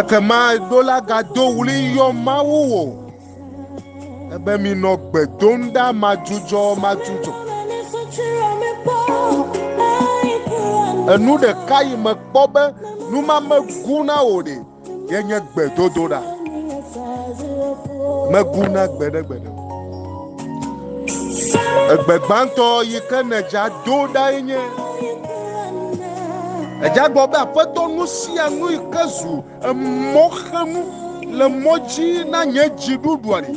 Ekema do la gado ɣli yɔ Mawu wò ebe minɔ gbe dom ɖa madzudzɔ madzudzɔ. Enu ɖeka yi mekpɔ be numame gu na wò ɖe. ye nye gbedodoɖa mebu na gbeɖegbeɖe egbe gbãtɔ yi ke nedza do ɖa ye nye edza gbɔ be aƒetɔ nu sia nu yi ke zu emɔxenu le mɔ dzi na nye dziɖuɖua ɖi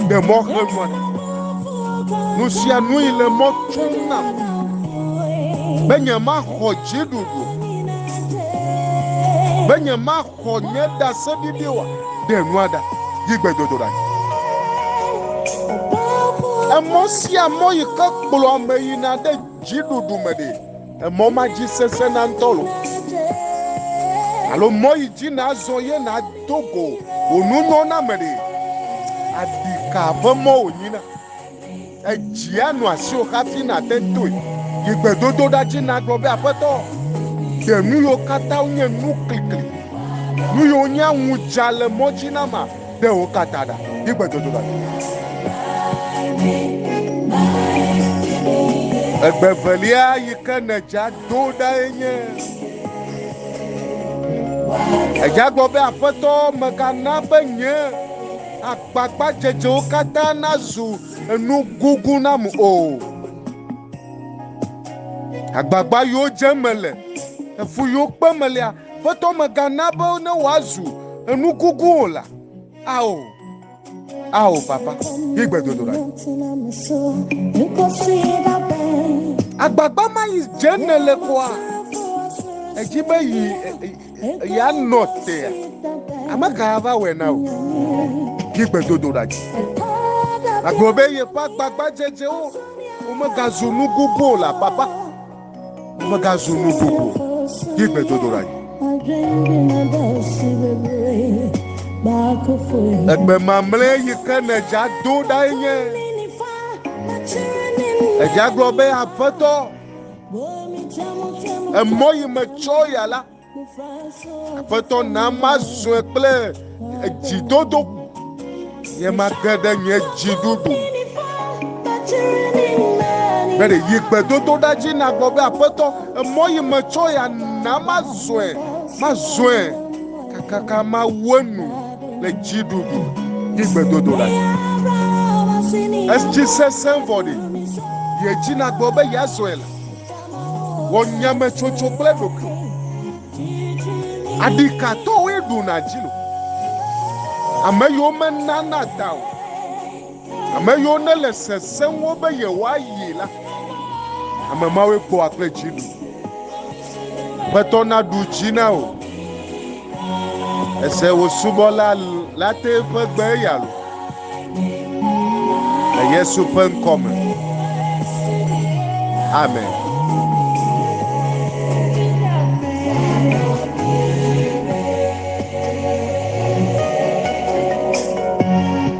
ɖe mɔxenua ɖi nu sia nu yi le mɔ tsom nam be nyemaxɔ dziɖuɖu Be nye ma xɔ nye da se bibi wa de nua da yi gbe dodo da. Emɔ sia mɔ yi ke kplɔ ame yi na de ji ɖuɖu me de. Emɔ ma ji sese na ŋutɔ lo. Alo mɔ yi ji na zɔ ye na dogo wonu nyɔ na me de. Adika be mɔ wonyi na. Edzia nu asiwò hafi nàte toe. Yi gbedodoɖa dzi nàgblɔ be, Aƒetɔ, ɖe nu yiwo katã wonye nu klikli, nu yiwo nye aŋudza le mɔ dzi na ma, ɖe wo katã ɖa. Yi gbedodoɖa dzi. Egbe evelia yi ke nèdzea do ɖae nye edzia gblɔ be, Aƒetɔ, mègana be nye Kpakpadzedzewo katã nazu enu gugu nam o. Agbagba yiwo dzem mele, efu yiwo kpem melea, Aƒetɔ megana be ne woazu enu gugu o la. Ao, ao, Papa, yi gbedodoɖa. Agbagba ma yi dzem nèle koa? Edzi be yi. eya nɔ tea ame ka va wɔe na wò yi gbedodoɖa dzi agblɔ be yeƒe agbagbadzedzewo womegazu nu gbogbo o la papa womegazu nu gbogbo yi gbedodoɖa dzi egbe mamlɛ yi ke nèdza do ɖae nye edza gblɔ be aƒetɔ Emɔ yi metsɔ ya la, Aƒetɔ na mazɔe kple dzidodo, nye mage ɖe nye dziɖuɖu. Be ɖe yi gbedodo ɖa dzi nagbɔ be Aƒetɔ, emɔ yi metsɔ ya na mazɔe, mazɔe kakaka mawu enu. le dziɖuɖu kple gbedodo le. Esi sesẽ vɔ ɖi, yedzina gbɔ be yeazɔe le. Wɔ nyametsotso kple ɖokuiwò. Aɖi ka tɔwoe ɖuna dzi lo? Ame yiwo menana da o. Ame yiwo nele sesẽwo be yewoayi la, ame mawoe kpɔa kple dzi ɖu. Aƒetɔ naɖu dzi na wò. Ese wò subɔla la te ƒe gbe eya lo. Le Yesu ƒe ŋkɔ me. Amen.